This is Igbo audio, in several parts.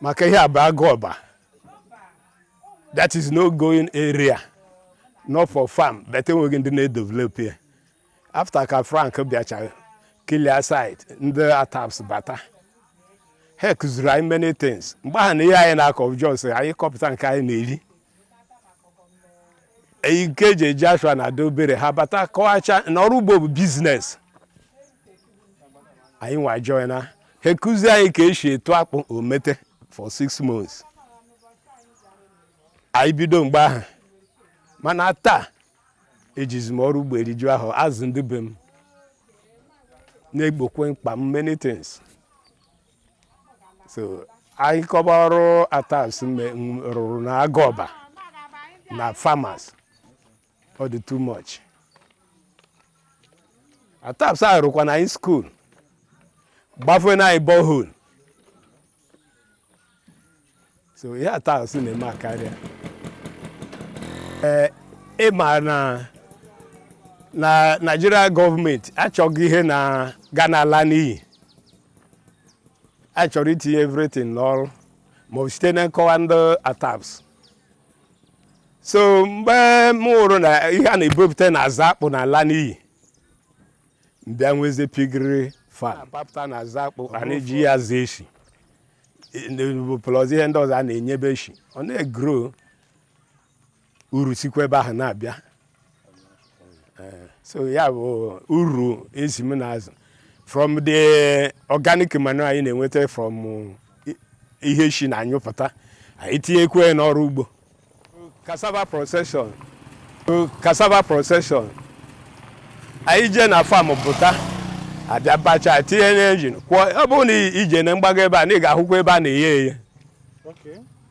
maka ihe a bụ agụọba that is no going area not for farm but enweghị ndị na-edevelop ya after ka frank bịachara clear site ndị ataps bata ha kụziri anyị many things mgbe ahụ na ihe anyị na-akọ just anyị kọpụta nke anyị na-eri nke e ji eje ashwa na-adị obere ha bata kọwacha na ọrụ ugbo bụ business anyị nwa joina ha kụzie anyị ka esi etu akpụ omete for six months anyị bido mgbe ahụ mana taa ejizi m ọrụ ugbo eriju ahọ azụ ndị be m na-egbokwe mkpa m many things so anyị kọba ọrụ atasp rụrụ na agụọba na farmers ọ dị too much ataps arụkwana anyị school gbafeena anyị borehole so ihe ataps na-eme akarịa ee ị ma na na naijiria gọọmenti achọghị ihe na ga na-ala n'iyi a chọrọ itinye everything n'ọrụ ma site na nkọwa ndị ataps so mgbe m hụrụ na ihe a na-ebupụta na azụ akpụ na-ala n'iyi m bịa nwezie piggery farm papụta na azụ akpụ a na-eji ya azụ eshi plus ihe ndị ọzọ a na-enyebe eshi ọ na-egro uru sikwa ebe ahụ na-abịa eh, so ya bụ uru ezi m na-azụ from the organic manure anyị na-enweta from eh, ihe eshi na-anyụpụta anyị tinyekwe n'ọrụ ugbo cassava procession anyị jee na farm buta a bịa bacha tinye n'engine kwọọ ọ bụrụ na i jee na mgbago ebe a na ị ga-ahụkwa ebe a na-eye ya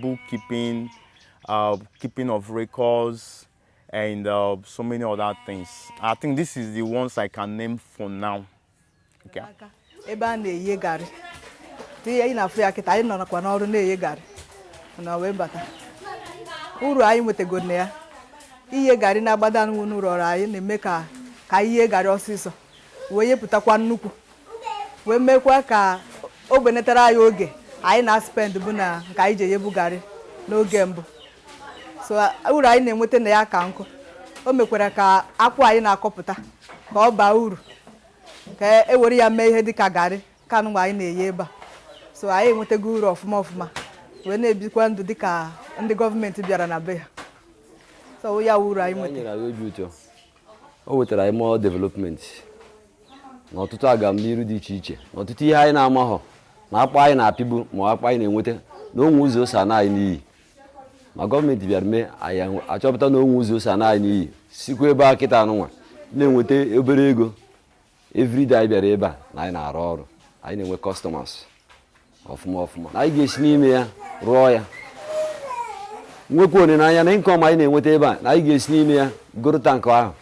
bookkeeping, uh, keeping of records, and uh, so many other things. I think this is the ones I can name for now. Okay. ebe a na-eye garị ihe anyị na-afụ ya kịta anyị nọrọkwa n'ọrụ na-eye garị na wee bata uru anyị nwetago na ya iye garị n'agbada n'ụlọ ọrụ anyị na-eme ka e yee garị ọsịsọ wee yepụtakwa nnukwu wee mekwa ka o benetara anyị oge anyị na-aspend bụ na nke anyị ji eyebu garị n'oge mbụ so uru anyị na-enweta na ya ka nkụ o mekwara ka akwụ anyị na-akọpụta ka ọ baa uru ka e were ya mee ihe dịka garị ka nụwa anyị na-eye ebe a so anyị enwetago uru ọfụma ọfụma wee na-ebikwa ndụ dịka ndị gọọmenti bịara na be ha so ya wụ uru anyị nweta o wetara anyị more development na ọtụtụ agamniru dị iche iche na ọtụtụ ihe anyị na-amaghọ na akpa anyị na-apịbu ma akpa anyị na-enweta na o nwe ụzọ o si ana anyị n'iyi ma gọọmenti bịara mee anyị achọpụta na o nwe ụzọ o si ana anyị n'iyi sikwa ebe a kịta anụnwa na-enweta obere ego everyday anyị bịara ebe a na anyị na-arụ ọrụ anyị na-enwe customers ọfụma ọfụma anyị ga-esi n'ime ya rụọ ya nwekwa olileanya na income anyị na-enweta ebe a na anyị ga-esi n'ime ya goro tankị ahụ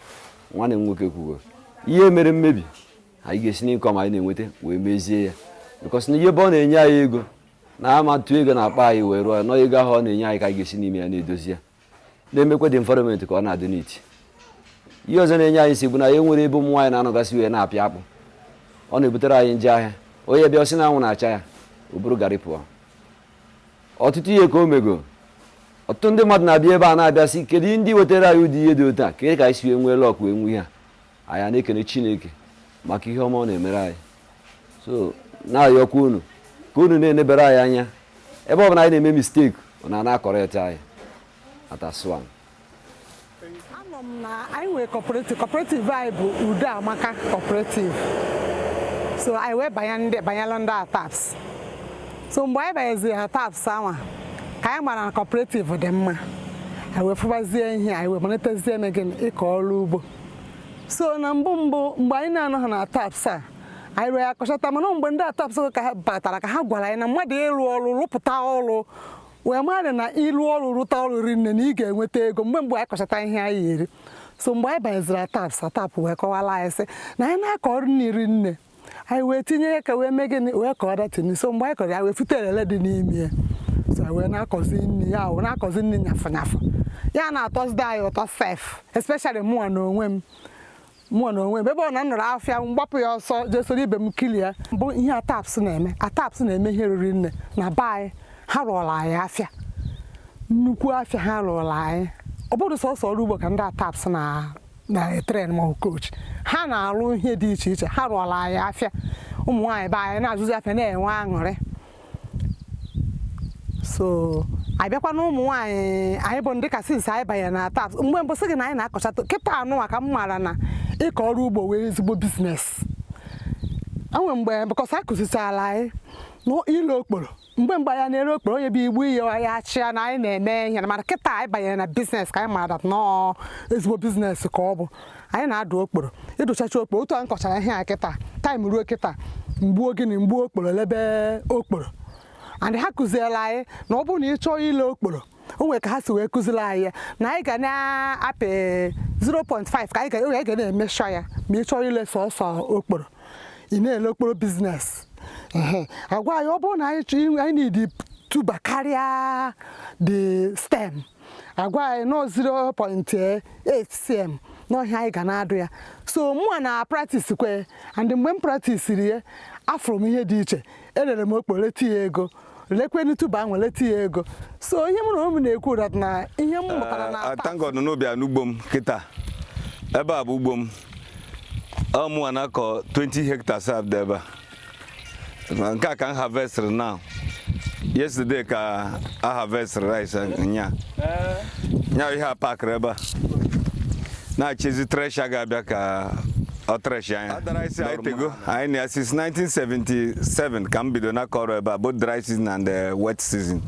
nwanne m nwoke kwugo ihe mere mmebi anyị ga-esi n'income anyị na-enweta wee mezie ya because na ihe ebe ọ na-enye anyị ego na ama-atụ ego n'akpa anyị wee rụọ ya na ọ ego ahụ ọ na-enye anyị ka anyị ga-esi n'ime ya na-edozi ya na-emekwa the environment ka ọ na-adị neat ihe ọzọ na-enye anyị si bụ na anyị nwere ebe ụmụ nwaanyị na-anọgasị wee na-apịa akpụ ọ na-ebutere anyị njọ ahịa onye bịa ọ sị na anwụ na-acha ya o buru garị pụọ ọtụtụ ihe ka o mego ọtụtụ ndị mmadụ na-abịa ebe a na-abịa sị kedu ndị wetara anyị ụdị ihe dị otu a kedu ka anyị si wee nwee luck wee nwee ihe a anyị a na-ekene chineke maka ihe ọma ọ na-emere anyị so na-ayọkwa unu ka unu na-enebere anyị anya ebe ọ bụla anyị na-eme mistake unu na-acorrect anyị atasp one anọ m na anyị nwere cooperative cooperative anyị bụ udo amaka cooperative so anyị wee banye ndị banyela ndị atasp so mgbe anyị banyeziri atasp anwa ka anyị mara na cooperative dị mma anyị wee fụbazie ihe anyị wee malitezie mee gịnị ịkọ ọrụ ugbo so na mbụ mbụ mgbe anyị na-anọghị na taps a anyị rụọ ya kọchata mana mgbe ndị atasp ka ha batara ka ha gwara anyị na mmadụ ịrụ ọrụ rụpụta ọrụ wee mara na ịrụ ọrụ rụta ọrụ ri nne na ị ga-enweta ego mgbe mgbe anyị kọchata ihe anyị eri so mgbe anyị banyeziri atasp atasp wee kọwara anyị sị na anyị na-akọ ọrụ riri nne anyị wee tinye ya ka wee mee gịnị wee kọọ that thing so mgbe anyị kọrọ ya wee fute elele dị n'ime ya so anyị wee na-akọzi nri ya wee na-akọzi nri nyafụ nyafụ ya na-atọzide anyị ụtọ sef especially mụnwa na onwe m mụnwa na onwe m ebe ọ na nọrọ afịa m gbapụ ya ọsọ jee soro ibe m kili ya bụ ihe atasp na-eme atasp na-eme ihe riri nne na be anyị ha rụọla anyị afịa nnukwu afịa ha rụọla anyị ọ bụrọ sọsọ ọrụ ugbo ka ndị atasp na na-etrain ma coach ha na-arụ ihe dị iche iche ha rụọla anyị afịa ụmụ nwaanyị be anyị na-azụzi afịa na-enwe aṅụrị so abịakwa na ụmụ nwaanyị anyị bụ dịka since anyị banye na atasp mgbe mbụ sị gị na anyị na-akọcha kịta nụwa ka m maara na ịkọ ọrụ ugbo wụ ezigbo business e nwe mgbe because a kụzichara anyị na ile okporo mgbe mgbe anyị na-ere okporo onye bịa igbu ihe ya achịa na anyị na-eme ihe mana kịta anyị banyere na business ka anyị mara na ọ ezigbo business ka ọ bụ anyị na-adụ okporo ị dụchacha okporo otu anyị kọchara ihe a kịta time ruo kịta m gbuo gịnị m gbuo okporo lebe okporo and ha kụziela anyị na ọ bụrụ na ị chọọ ile okporo o nwere ka ha si wee kụziri anyị ya na anyị ga na-apị 0.5 ka anyị ga oge anyị ga na-emeasure ya ma ị chọrọ ile sọsọ okporo ị na-ele okporo business Ehe. agwa anyị ọ bụrụ na anyị chọ inwe- anyị need tuber karịa the stem agwa anyị na 0.8 cm na ọ ihe anyị ga na-adụ ya so mụwa na practice kwe and mgbe m practiciri ya afụrụ m ihe dị iche elere m okporo leta ya ego lekwenu tuber ahụ leta ya ego so ihe mụ na ụmụ na-ekwu bụ that na ihe m mụtara na ata thank God n'ubi a n'ugbo m kịta ebe a bụ ugbo m ọ mụwa na-akọ 20 hectares a dị ebe a Ma nke a ka m harvestịrị now yesterday ka a harvestịrị rice nya nya ihe a packịrị ebe a na-echezi thresher ga-abịa ka ọ threshịa nya Ọ tara isi awụrụ Daitego, mụ na- anyị na since 1977 ka m bido na-akọ ọrụ ebe a both dry season and eh, wet season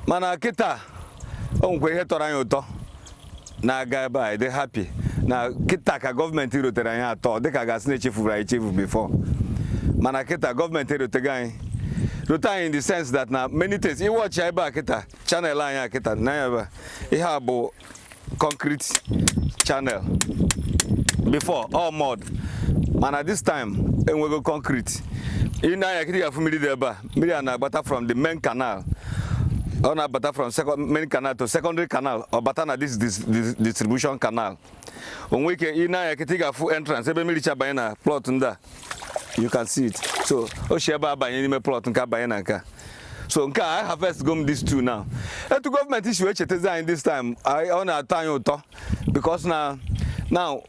mana kịta o nwekwa ihe tọrọ anyị ụtọ na-aga ebe a dị happy na kịta ka gọọmenti rotere anyị that ọ dịka a ga-asị na echefuru anyị echefu before mana kịta gọọmenti erotego anyị rote anyị in the sense that na many things ị watchie ebe a kịta channel anyị a kịta na ebe a ihe a bụ concrete channel before all mud mana this time enwego concrete ị nee anya kịta ga-afụ mmiri dị ebe a mmiri a na-agbata from the main canal ọ na-abata from main canal to secondary canal ọ bata na this distribution canal o nwe ike ị nee anya kịta ị ga-afụ entrance ebe mmiri si abanye na plot ndị a you can see it so o si ebe a banye n'ime plot nke a banye na nke a so nke a aharvestgo m these two now etu gọọmenti si wee chetazi anyị this time ọ na-atọ anyị ụtọ because na now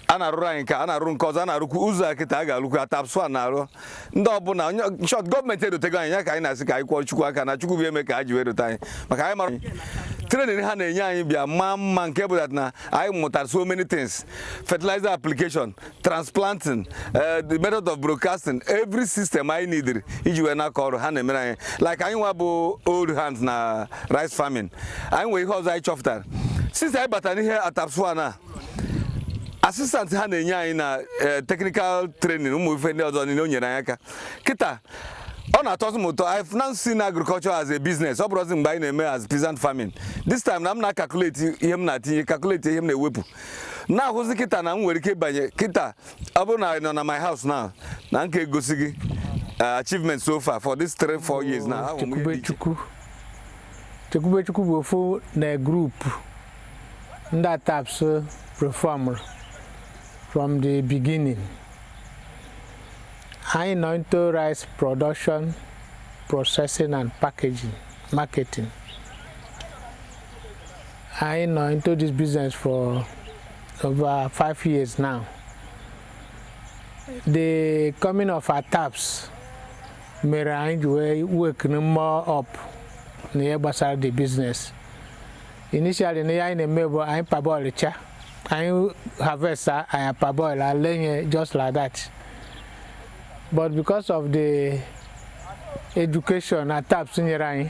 a na-arụrụ anyị nke a na-arụ nke ọzọ a na-arụkwu ụzọ a kịta a ga-arụkwu ATASP-1 na-arụ ndị ọbụla short gọọmenti erotego anyị ya ka anyị na-asị ka anyị kụọ Chukwu aka na Chukwu bụ eme ka ha ji wee rote anyị maka anyị mara training ha na-enye anyị bịa maa mma nke bụ na anyị mụtara so many things fertilizer application transplanting eh, the method of broadcasting every system anyị needed iji wee na-akọ ọrụ ha na-emere anyị like anyị nwa bụ old hands na rice farming anyị nwere ihe ọzọ anyị chọpụtara since anyị batara n'ihe ATASP-1 a assistant ha na-enye anyị na eh, technical training ụmụ ife ndị ọzọ niile o nyere anyị aka kịta ọ na-atọzi m ụtọ I've now seen agriculture as a business ọ bụrọzi mgbe anyị na-eme as peasant farming this time na m na-calculate ihe m na-atinye calculate ihe m na-ewepụ na-ahụzi kịta na m nwere ike ịbanye kịta ọ bụrụ na ị nọ na my house now na m ka-egosi gị uh, achievement so far for this three four years now ahụ m ihe dị iche. Chekwubechukwu bụ ofu na group ndị ATASP formụrụ from the beginning anyị nọ into rice production processing and packaging marketing anyị nọ into this business for over five years now the coming of ATASP mere anyị ji wee work more up na ihe gbasara the business initially na ihe anyị na-eme bụ anyị parboilchaa anyị harvest anyị parboil anyị eree just like that but because of the education ATASP nyere anyị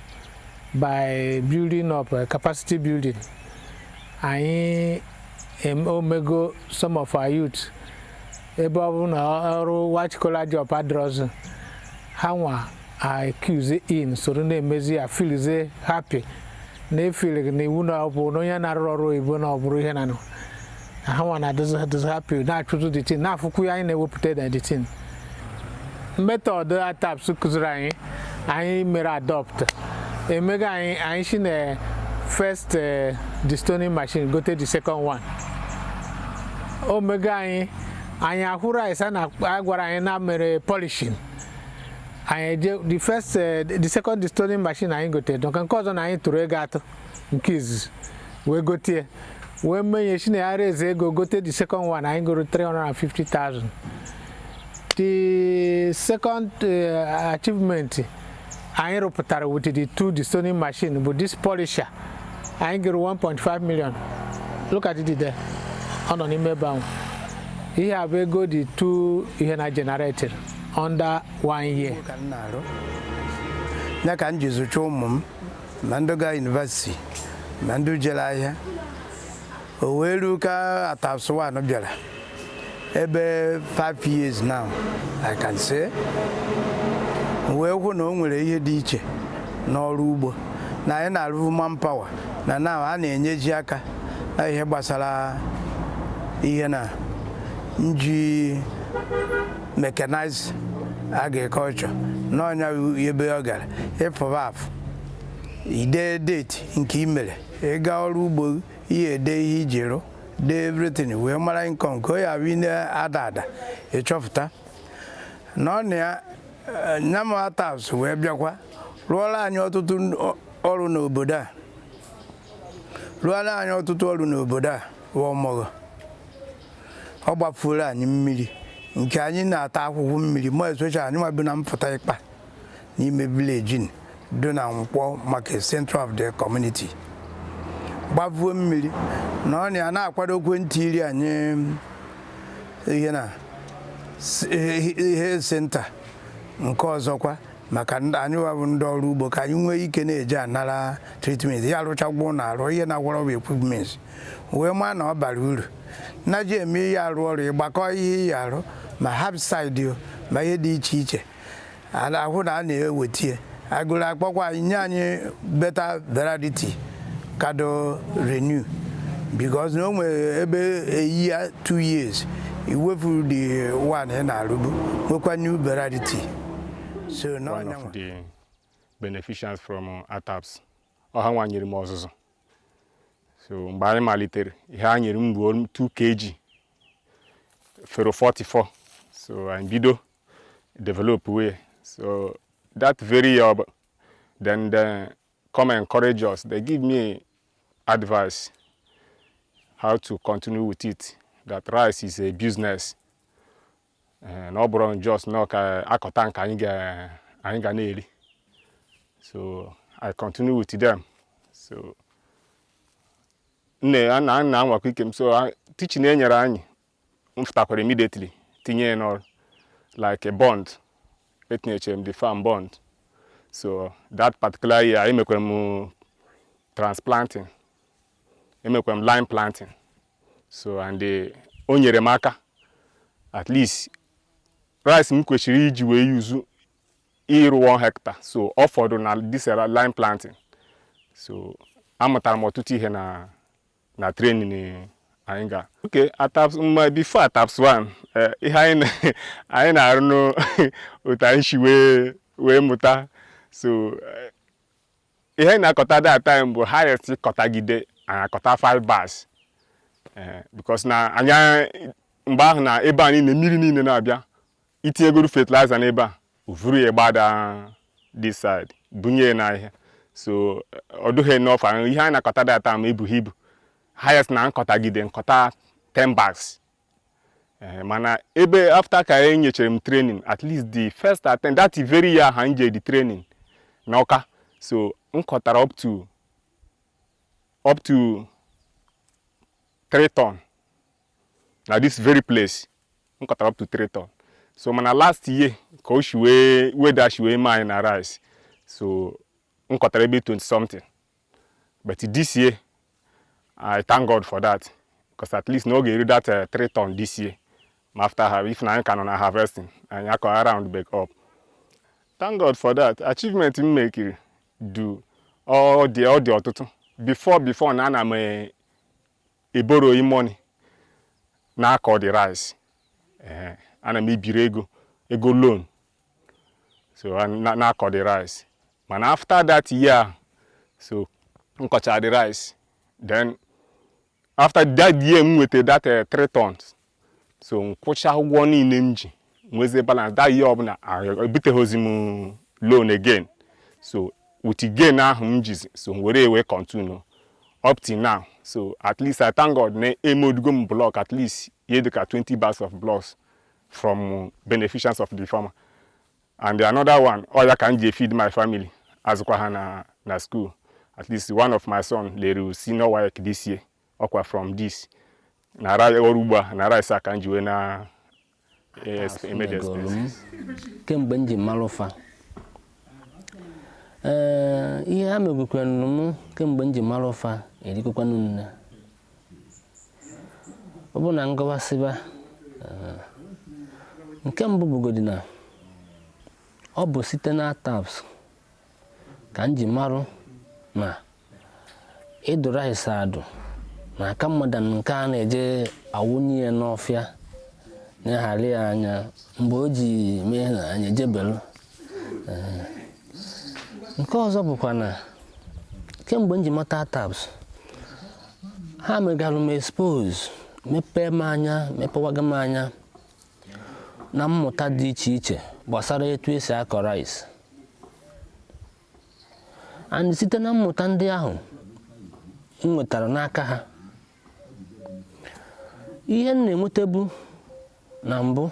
by building up uh, capacity building anyị em- omego some of our youth ebe ọ bụ na ọrụ white collar job adịrọzi ha nwa accuse in soro na-emezi ya feelzie happy na-efeeli na iwu na ọ bụ na onye na-arụ ọrụ oyibo na ọ bụrụ ihe na nụ ha nwa na-adịzi happy na-achụtụ the thing na-afụkwu ihe anyị na-ewepụta na the thing method ATASP kụziri anyị anyị mere adopt emega anyị anyị esi na first eh, destoning machine gote the second one omega anyị anyị ahụ rice a na a gwara anyị na mere polishing anyị eje the first eh, the second destoning machine anyị gote dịka nke ọzọ na anyị tụrụ ego atụ nke izizi wee gote ya wee mee anyị si na ya raise ego gote the second one anyị goro 350,000 the second uh, achievement anyị rụpụtara with the two destoning machine bụ this polisher anyị goro 1.5 million look at it there ọ nọ n'ime ebe ahụ ihe a bụ ego the two ihe na generated under one year ka m na-arụ ya ka m ji zụcha ụmụ m ma ndị gaa university ma ndị jere ahịa o wee ruo ka ATASP 1 bịara ebe 5 years now I can say wee hụ na o nwere ihe dị iche n'ọrụ ugbo na anyị na-arụbu manpower na na a na-enyeji aka na ihe gbasara ihe na nji mechanized agriculture na onye ebe ọ gara ị fụba afụ ide date nke ị mere ịga ọrụ ugbo ihe ede ihe iji rụ dee everything wee mara income ka ọ ya bụ ị na-ada ada ịchọpụta na ọ na ya eh, nyama ATAPS wee bịakwa rụọla anyị ọtụtụ n- ọ- ọrụ n'obodo a rụọla anyị ọtụtụ ọrụ n'obodo a bụ Omor ọ gbafuola anyị mmiri nke anyị na-ata ahụhụ mmiri ma esocha anyị nwa bi na mpụta ịkpa n'ime village dị na Nkwọ market center of the community gbavuo mmiri na ọ na ya na-akwado ekwentị ịrụ anyị health center nke ọzọkwa maka anyị wabụ ndị ọrụ ugbo ka anyị nwee ike na-eje anara treatment ya arụchagwụ na arụ ihe na-agwọrọ bụ equipment wee maa na ọ bara uru na ji eme ihe arụ ọrụ ịgbakọ ihe iyi arụ ma herbicide ma ihe dị iche iche a na-ahụ na a na-ewetie agụrụ akpọkwa anyị nye anyị better variety kado renew because na o nwere ebe eyi ya 2 years i wefuru the one ị na-arụbu nwekwa new variety so one of the beneficiaries from uh, ATAPS ọ ha nwa nyere m ọzụzụ so mgbe anyị malitere ihe a nyere m bụ 2 kg FARO 44 so anyị bido develop way so that very year then they come encourage us they give me advice how to continue with it that rice is a business eh, na ọ bụrọ just na ọ akọta nke anyị ga na-eri so i continue with them so na anwakwa ike m so teaching e nyere anyị m fụtakwara immediately tinye ya n'ọrụ like a bund etinyechere m the farm bund so that particular year emekwara m transplanting emekwara m line planting so and eh, o nyere m aka at least rice m kwesịrị iji wee use ịrụ 1 hectare so ọ fọdụ na this line planting so amụtara m ọtụtụ ihe na na training anyị ga okay before ATAPS 1 eh, ihe anyị na- anyị na-arụ n'otu anyị si wee wee mụta so eh, ihe anyị na-akọta that time bụ highest kọtagide anyị akọta 5 bags Eh, because na anyị mgbe ahụ na ebe anyị na mmiri niile na-abịa itinyegoro fertilizer n'ebe a o vuru ya gbada this side bunye na ihe so ọ dụghị enough ihe anyị na-akọta that time ebughị ibu highest na m kọtagide m kọta 10 bags eh, mana ebe after ka e nyechere m training at least the first attempt that very year ha nje the training na Awka so m kọtara up to up to 3 ton na this very place m kọtara up to 3 ton so mana last year ka o shi wee weather shi wee mee anyị na rice so m kọtara ebe 20 something but this year i thank god for that because at least na ọ ga-eru that uh, 3 ton this year ma after ha if na anyị ka nọ na harvesting anyị aka around back up thank god for that achievement m mekiri du ọ dị ọ dị ọtụtụ before before na ana m eh, eborrow money na-akọ the rice ana m ebiri ego ego loan so na-akọ the rice mana after that year so m kọcha the rice then after that year m nweta that 3 eh, tons so m kwụcha ụgwọ niile m ji nwezie balance that year ọ bụ na ebiteghịzi m loan again so with gain ahụ m jizi so were wee continue up till now so at least I thank God na emouldugo m block at least ihe dịka 20 bags of blocks from beneficiaries of the farmer and another one ọ ya ka m ji feed my family azụkwa ha na na school at least one of my son lere senior WAEC this year ọkwa from this na ọrụ ugbo a na rice a ka m ji wee na eh, exp- eme the Megoro m expenses. kemgbe m ji marụ fa ee ihe ha megokwanụ m kemgbe m ji marụ fa erikakwanụ nne ọ bụ na m gụwasịba ee, nke mbụ bụgodi na ọ bụ site na ATASP ka m ji marụ na ịdụ rice adụ na-aka mma than nke a na-eje awụnye ya n'ọfịa na-eghara ya anya mgbe o ji mee na anyị ejebelụ Ee. nke ọzọ bụkwa na kemgbe m ji mata ATASP ha megarụ m expose mepee m anya mepewaga m anya na mmụta dị iche iche gbasara etu esi akọ rice and site na mmụta ndị ahụ m nwetara n'aka ha ihe m na-enwetabu na mbụ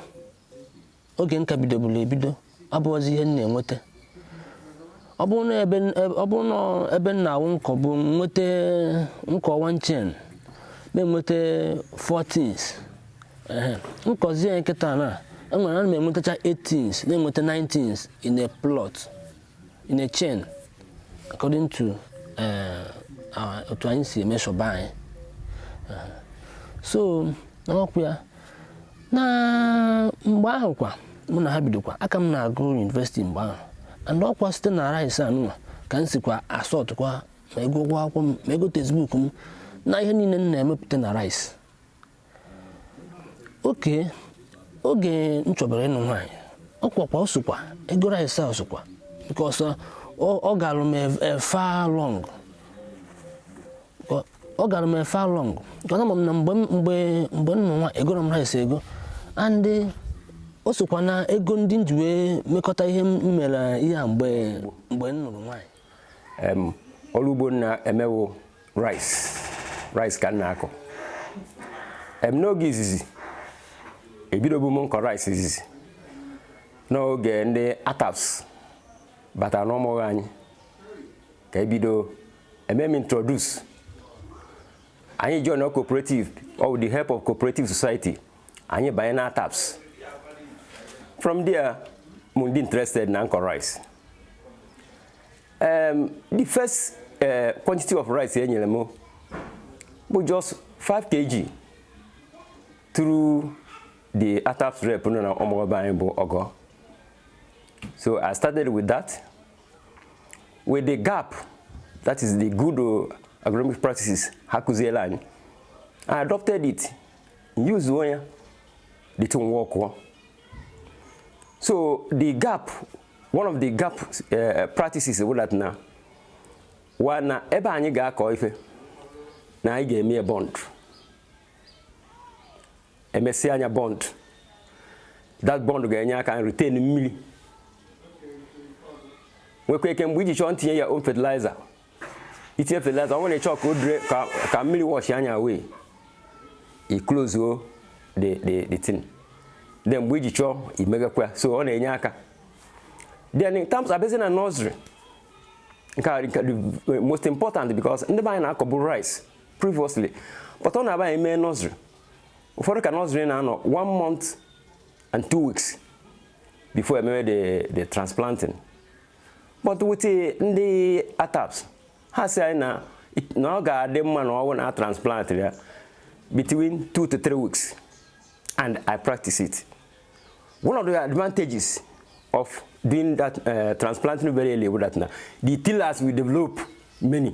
oge m ka bidoburu ebido abụghịzi ihe m na-enweta ọ bụrụ na ebe ọ bụrụ na ebe m na-awụ m kọbu nweta m kọọ one chain na-enweta four tins ehe m kọzie ya kịta na enwere ana m enwetacha eight tins na-enweta nine tins in a plot in a chain according to eh, our- otu anyị si e-measure be anyị so n'ọkụ ya na mgbe ahụ kwa mụ na ha bidokwa a ka m na-agụ university mgbe ahụ and ọkwa site na rice anụnwa ka m sikwa asọtụkwa ma ego ụgwọ akwụkwọ m ma ego textbook m na ihe niile m na-emepụta na rice okay oge m chọbara ịnụ nwaanyị ọ kwakwa o sokwa ego rice a o sokwa because ọ ọ galụ m far long ọ gara m far long because ama m na mgbe mgbe mgbe m nụrụ nwa egoro m rice ego and o sokwa na ego ndị m ji wee mekọta ihe m mere ihe a mgbe mgbe m nụrụ nwaanyị ọrụ ugbo m na-eme wụ rice rice ka m na-akọ em n'oge izizi ebidobu m nkọ rice izizi n'oge ndị ATAPS batara n'Omogho anyị ka ebido eme m introduce anyị join our cooperative or with the help of cooperative society anyị banye na ATAPS from there mụ adị interested na nkọ rice um, the first uh, quantity of rice e nyere m bụ just 5 kg through the ATAPS rep nọ na Omogho be anyị bụ Ọgọ so I started with that with the GAP that is the good uh, agronomic practices ha kụziela anyị I adopted it use ya the thing work well. so the GAP one of the GAP uh, practices bụ that na wa na ebe anyị ga-akọ ife na anyị ga-eme bund e mesịa nya bund that bund ga-enye aka retain mmiri nwekwa ike mgbe i ji chọọ ntinye ya own fertilizer itinye fertilizer ọ nwere chọọ ka o dure ka mmiri washịa nya away i close o the the the thing then mgbe i ji chọọ imeghekwa so ọ na-enye aka then in terms a bịazie na nursery nke a the most important because ndị be anyị na-akọbu rice previously but ọ na-abụ anyị mee nursery ụfọdụ ka nursery na-anọ one month and two weeks before e meme the the transplanting but with ndị ataps ha sị anyị na na ọ ga-adị mma na ọ wụ na a transplant ya between two to three weeks and I practice it one of the advantages of doing that uh, transplanting very early wụ that na the tillers will develop many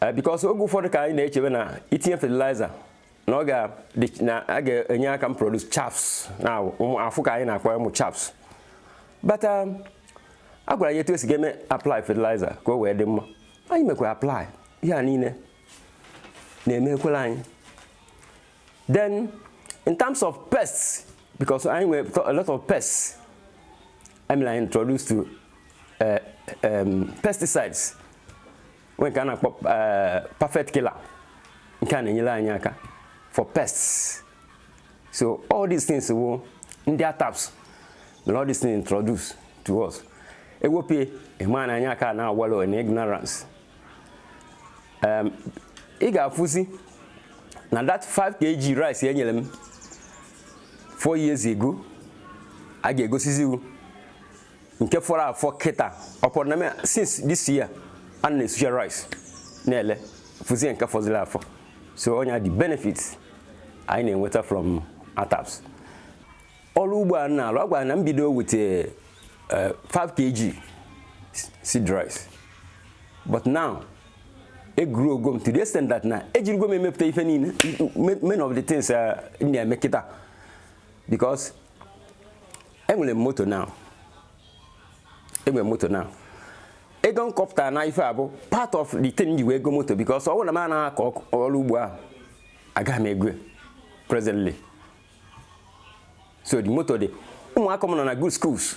eh, because oge ụfọdụ ka anyị na-echebe na itinye fertilizer na ọ ga-enye aka m produce chaffs na ụmụ afụ ka anyị na-akpọ ụmụ chaffs but um, a gwara anyị etu e si ga-eme apply fertilizer ka o wee dị mma anyị mekwara apply ihe a niile na-emekwela anyị then in terms of pests because anyị nwere a lot of pests e mee anyị introduce to uh, um, pesticides nwee nke a na-akpọ eh, perfect killer nke a na-enyere anyị aka for pests so all these things wụ ndị ataps mere all these things introduce to us e wepụ ya ị ma na anyị aka na-awallow in ignorance um, ị ga-afụzi na that 5 kg rice e nyere m 4 years ago a ga-egosizi ghụ nke fọrọ afọ kịta upon na since this year a na-esucha rice na-ele fụzie nke fọziri afọ so one of the benefits anyị na-enweta from ataps ọrụ ugbo a na-alụ a gwara na m bido with 5 eh, kg seed rice but now egrowgo m to the extent that na ejirigo m emepụta ife niile many of the things eh, na-eme kịta because enwere m moto now enwere m moto now ego m kọpụtara na ife a bụ part of the thing ji wee ego moto because ọ wụ na m anaghị akọ ọrụ ugbo ahụ agaghị m ego presently so the moto dị ụmụaka m nọ na good schools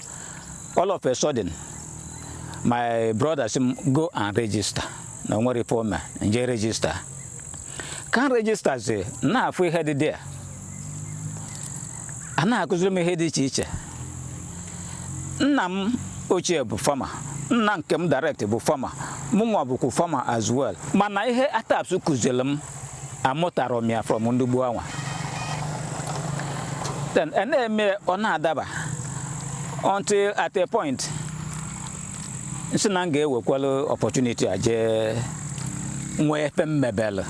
all of a sudden my brother sị m go and register na o nwere ife o mee nje register ka m registazi na-afụ ihe dị there a na-akụziri m ihe dị iche iche nna m ochie bụ farmer nna nke m direct bụ farmer mụnwa bụkwa farmer as well mana ihe ataps kụziri m amụtarọ m ya from ndị gboo anwa then a na-eme ọ na-adaba until at a point nsị na m ga-ewekwala opportunity a jee nwee ife m mebelụ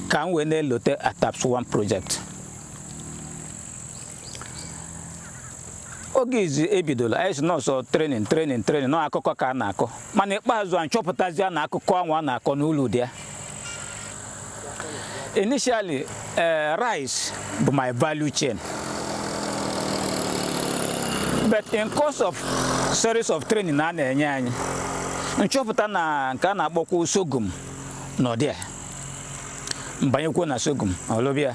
ka m wee na-elote ataps 1 project oge izi e bidola anyị sị na ọ sọ training training training na ọ akụkọ ka a na-akọ mana ikpeazụ a m chọpụtazia na akụkọ anwa a na-akọ na ulu dị ya initially eh, rice bụ my value chain but in course of series of training a na-enye anyị m chọpụta na nke a na-akpọkwa sorghum na ọ dị ya m banyekwuo na sorghum lụba ya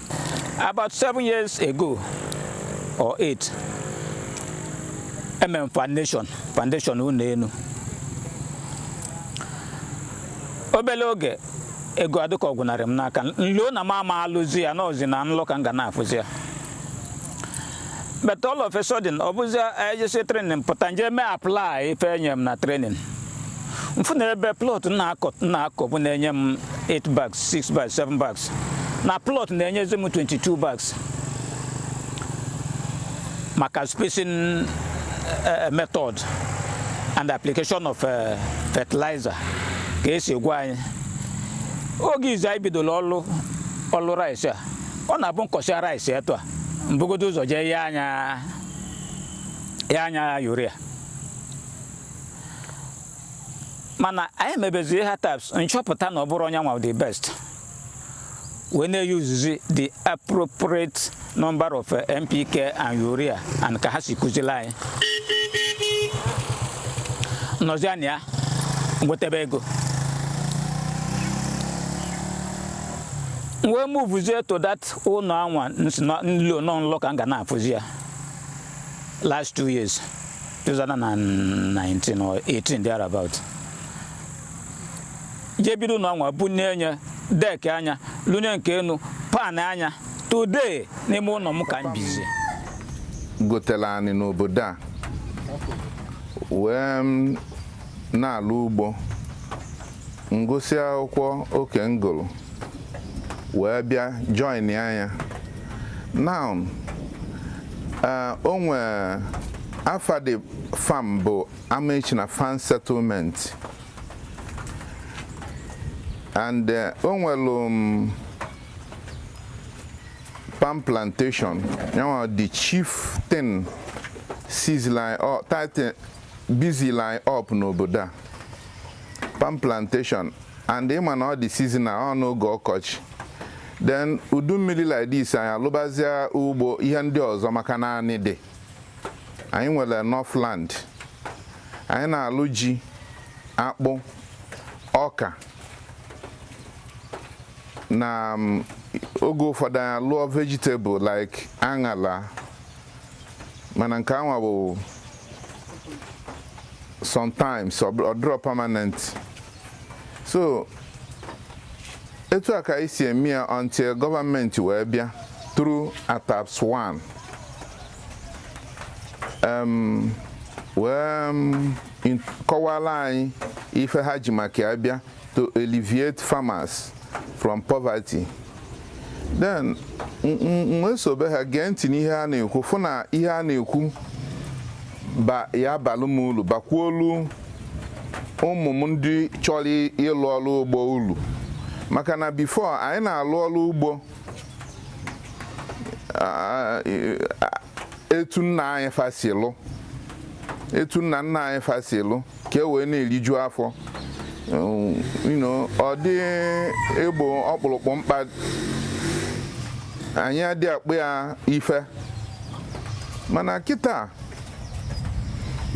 About seven years ago or eight, e mee m foundation foundation ụnọ enu obele oge ego adịka ọ gwụnarị m n'aka m lo na m ama alụzi ya na ọ zi na nlọ ka m ga na-afụzi ya but all of a sudden ọ bụzi e jesịa training pụta m jee mee apply ife e nye m na training m fụ na ebe plot na-akọ na-akọbu na-enye m 8 bags 6 bags 7 bags na plot na-enyezi m 22 bags maka spacing uh, method and application of uh, fertilizer ka e si gwa anyị oge izi anyị bidola ọlụ ọlụ rice a ọ na-abụ m kọsịa rice etu a m bugodo ụzọ jee yanye ya urea mana anyị mebeziri ATAPS m chọpụta na ọ bụrọ yanwa the best wee na-use zi the appropriate number of eh, NPK and urea and ka ha si kụzili anyị nọzi anya ya nwetebe ego wee move zie to that ụnọ anwa m lo na ọ nlọ ka m ga na-afụzi ya last two years 2019 or 18 thereabout jee bido ụnọ anwa bunie enu deck ya lụnye nke enu pan ya today n'ime ụnọ m ka m bizi gotelu anị n'obodo a wee na-alụ ugbo m gụsịa akwụkwọ oke m gụlụ wee bịa join ya now eh, o nwee afa the farm bụ Amaechina Farm Settlement and eh, o nwelu um, palm plantation yanwa the chief thing sees line up titan busy line up n'obodo a palm plantation and ị ma na ọ dị seasonal ọ n'oge ọkọchị then udu mmiri like this anyị alụbazia ugbo ihe ndị ọzọ maka na anị dị anyị nwere enough land anyị na-alụ ji akpụ ọka na um, oge ụfọdụ anyị alụọ vegetable like aṅala mana nke anwa bụ sometimes ọ dịrọ permanent so etu a ka anyị si eme ya until government wee bịa through ataps 1 wee kọwala anyị ife ha ji maka ya bịa to alleviate farmers from poverty then wee sobe ha gee ntị n'ihe a na-ekwu fụ na ihe a na-ekwu ya-abalụ m ulu bakwuolu ụmụ m ndị chọrọ ịlụ ọrụ ugbo ulu maka na before anyị na-alụ ọrụ ugbo etu nna anyị fa si lụ etu nna nna anyị fa si lụ ka e wee na-eriju afọ ọ dị egbo ọkpụrụkpụ mkpa anyị adị akpọ ya ife mana kịta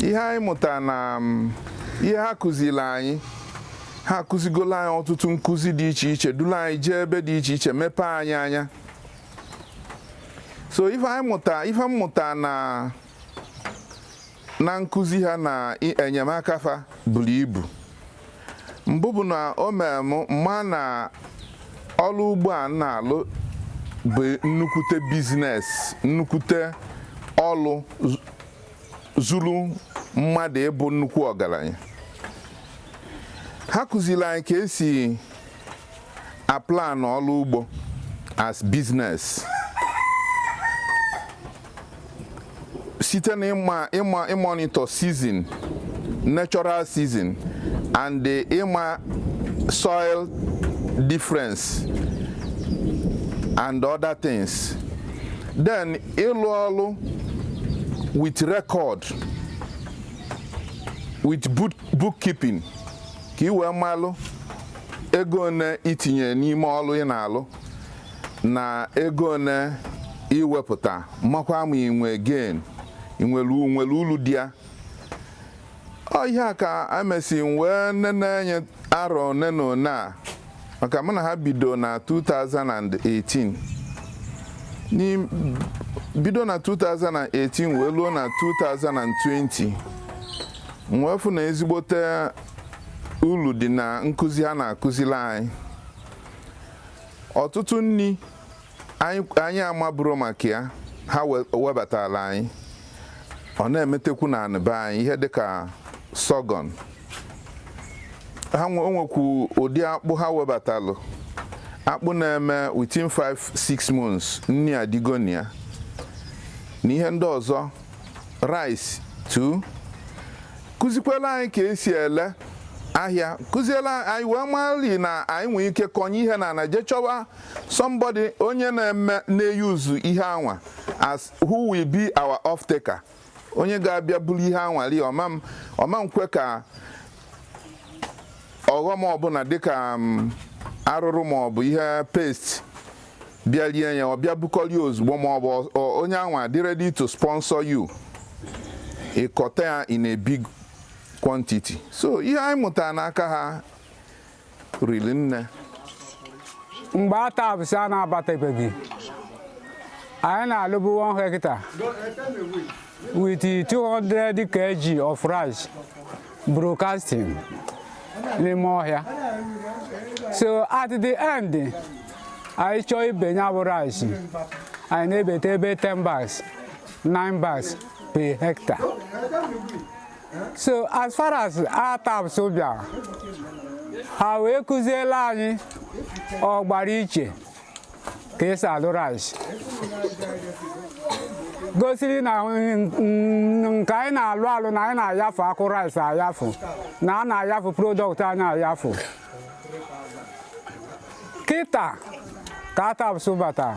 ihe anyị mụta na um, ihe ha kụziri anyị ha akụzigola anyị ọtụtụ nkụzi dị iche iche dulu anyị jee ebe dị iche iche mepee anyị anya so ife anyị mụta ife mmụta na na nkụzi ha na i- enyemaka fa buru ibu mbụ bụ na o mere m ma na ọrụ ugbo a m na-alụ bụ nnukwute business nnukwute ọrụ zu- zuru mmadụ ịbụ nnukwu ọgaranya ha kụziri anyị ka e si a plan ọrụ ugbo as business site na ịma ịma ịmọnitọ season natural season and the ịma soil difference and other things then ịlụ ọrụ with record with book, bookkeeping ka ị wee malụ ego one i tinye n'ime ọlụ ị na-alụ na ego one i wepụta makwa ma i nwe gain i nwelu nwere ulu dị ya ọ ihe a ka e mesị wee nene anya arọ one na one a maka mụ na ha bido na 2018 bido na 2018 wee luo na 2020 wee fụ na ezigbote ulu dị na nkụzi ha na-akụzili anyị ọtụtụ nri anyị amaburọ maka ya ha webatalụ anyị ọ na-emetekwu na anị be anyị ihe dịka sorghum o nwekwu ụdị akpụ ha webatalụ akpụ na-eme within 5-6 months nni adịgo na ya na ihe ndị ọzọ rice too kụzikwela anyị ka esi ele ahịa kụziela anyị wee mali na anyị nwee ike kọnye ihe na na je chọwa somebody onye na-eme na-eyuzu ihe anwa as who will be our off taker onye ga-abịa buru ihe anwa lee ọ ma nkwe ka ọghọm ọbụla dịka um, arụrụ ma ọ bụ ihe pest bịa lie ya ọ bịa bukọrọ ozugbo ma ọ bụ onye anwa dị ready to sponsor you ịkọta ya in a big quantity so ihe anyị mụtara n'aka ha riri nne mgbe ATASP a na-abatabeghị anyị na-alụbu 1 hectare with 200 kg of rice broadcasting n'ime ọhịa so at the end anyị chọọ ibe ya bụ rice anyị na-ebeta ebe 10 bags 9 bags per hectare so as far as ATASP bịara ha wee kụziela anyị ọgbara iche ka esi alụ rice gosiri na nke anyị na-alụ alụ na anyị na-ayafu akụ rice ayafu na a na-ayafu product anyị ayafu kịta ka ATASP batara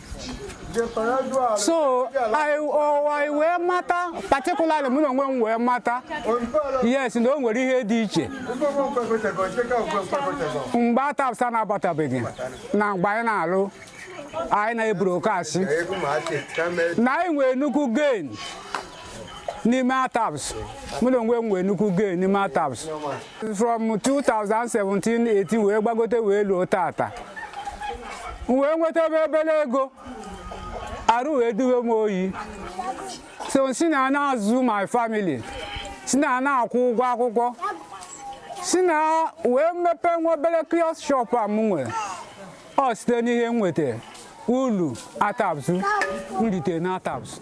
so anyị wee mata particularly mụ na onwe m wee mata yes na o nwere ihe dị iche mgbe ATASP na-abatabeghị na mgbe anyị na-alụ anyị na-ebrokasị na anyị nwee nnukwu gain n'ime ATASP mụ na onwe m nwee nnukwu gain n'ime ATASP from 2017-18 wee gbagote wee luo tata m wee nweta obere ego arụ wee duwe m oyi so si na na-azụ my family si na na-akwụ ụgwọ akwụkwọ si na wee mepee nwa obere kiosk shop a m nwere ọ site n'ihe m nweta ulu ATASP m rite na ATASP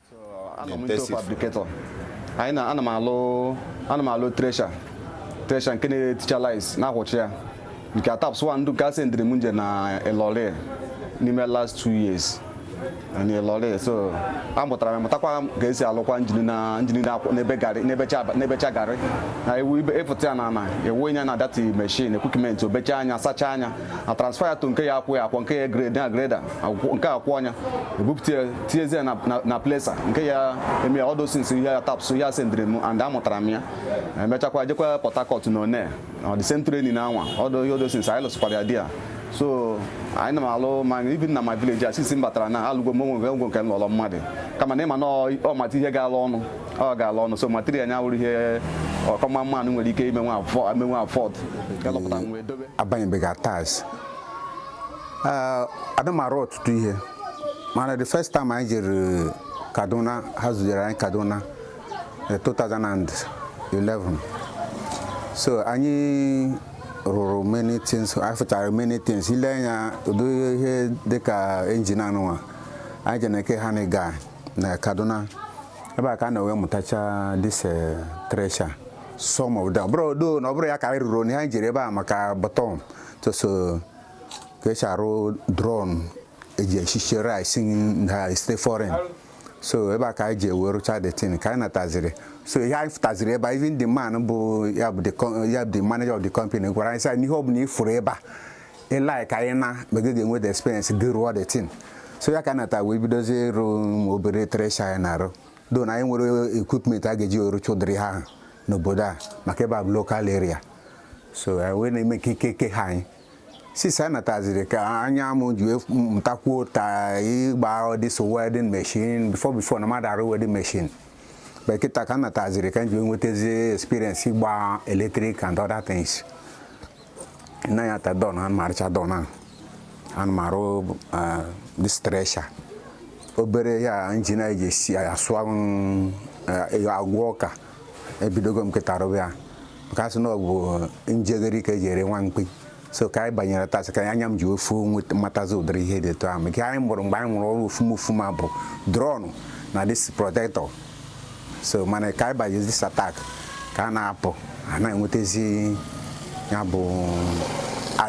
anọ m into fabricator anyị na ana m alụ ana m alụ thresher thresher nke na-eticha rice na-akwụcha ya nke ATASP-1 ndụ nke a sendịrị m m je na Ilorin n'ime last two years na Ilorin so amụtara m mụtakwa ka esi alụkwa njini na njini na-akwụ na-ebe garị na-ebecha na-ebecha garị na ewu ibe ịfụta ya na ana ewu ya na that machine equipment o bechaa ya sachaa ya na transfer ya to nke ya akwụ ya akwọ nke ya grade na grader nke akwụ ọnya ebupụta tinyezie na presser nke ya eme ya all those things ihe ATASP ya sendịrị m and amụtara m ya emechakwa jekwa Port Harcourt na one the same training na anwa ọdụ ihe all those things anyị lụsịkwara ya there so anyị na m alụ ma even na my village a sisi m batara na alụgo m onwe ngwo nke nlọrọ mmadụ kama na ịma na ọ mata ihe ga-alụ ọnụ ọ ga-alụ ọnụ so material nya wụrụ ihe ọkọma mmadụ nwere ike ime nwa afọ ime nwa afford ga lọpụta nwa edobe abanyebeghị ATASP ada m arụ ọtụtụ ihe mana the first time anyị jere kaduna ha zujere anyị kaduna na 2011 so anyị rụrụ many things anyị fụchara many things ile anya ụdị ihe dịka engine anụnwa anyị jere na eke ha na ga na kaduna ebe a ka a na-ewe mụtacha this eh, thresher some of them bụrụ odo na ọ bụrụ ya ka anyị rụrụ onye anyị jere ebe a maka bottom to show ka esi arụ drum eji esicha rice na state foreign so ebe a ka anyị ji ewe rụcha the thing ka anyị nataziri so ihe anyị fụtaziri ebe a even the man bụ ya bụ the co- ya bụ the manager of the company gwara anyị sị anyị n'ihe ọbụla ị fụrụ ebe a ị like ya anyị na mgbe gị ga-enwe the experience gị rụọ the thing so ya ka anyị nata wee bidozie ịrụ ụmụ obere thresher anyị na-arụ though na anyị nwere equipment a ga-eji arụcha ụdịrị ha ahụ n'obodo a maka ebe a bụ local area so anyị wee na-eme ka ike ke ha anyị sisi anyị nataziri ka anya m ji wee mụtakwuo ta ịgba this welding machine before before na m ada arụ welding machine but kịta ka m nataziri ka m ji wee nwetazi experience ịgba electric and other things na ya ta drum ana m arụcha drum ahụ ana m arụ eh, this thresher obere ya engine anyị ji esi ya asụ ya agwọ ọka ebidogo m kịta rụba ya maka asị na ọ bụ njegharị ka eji ere nwa mkpi so ka anyị banyere ATASP ka anya m ji ofu nweta- matazi ụdịrị ihe dị etu ahụ maka anyị mụrụ mgbe anyị mụrụ ọrụ ofuma ofuma bụ drum na this protector so mana ka anyị banyezi ATASP ka a na-apụ a na-enwetazi ya bụ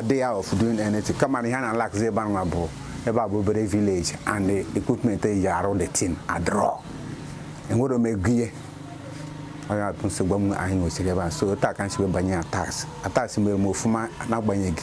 idea ahụ of doing anything kama na ihe a na-alackzi ebe anwa bụ ebe a bụ obere village and the equipment eji arụ the thing adịrọ enwerọ m ego ihe onye atụ nsogbu m anyị nwechiri ebe a so taa ka m si wee banye ATASP ATASP mere m ofuma n'agbanyeghị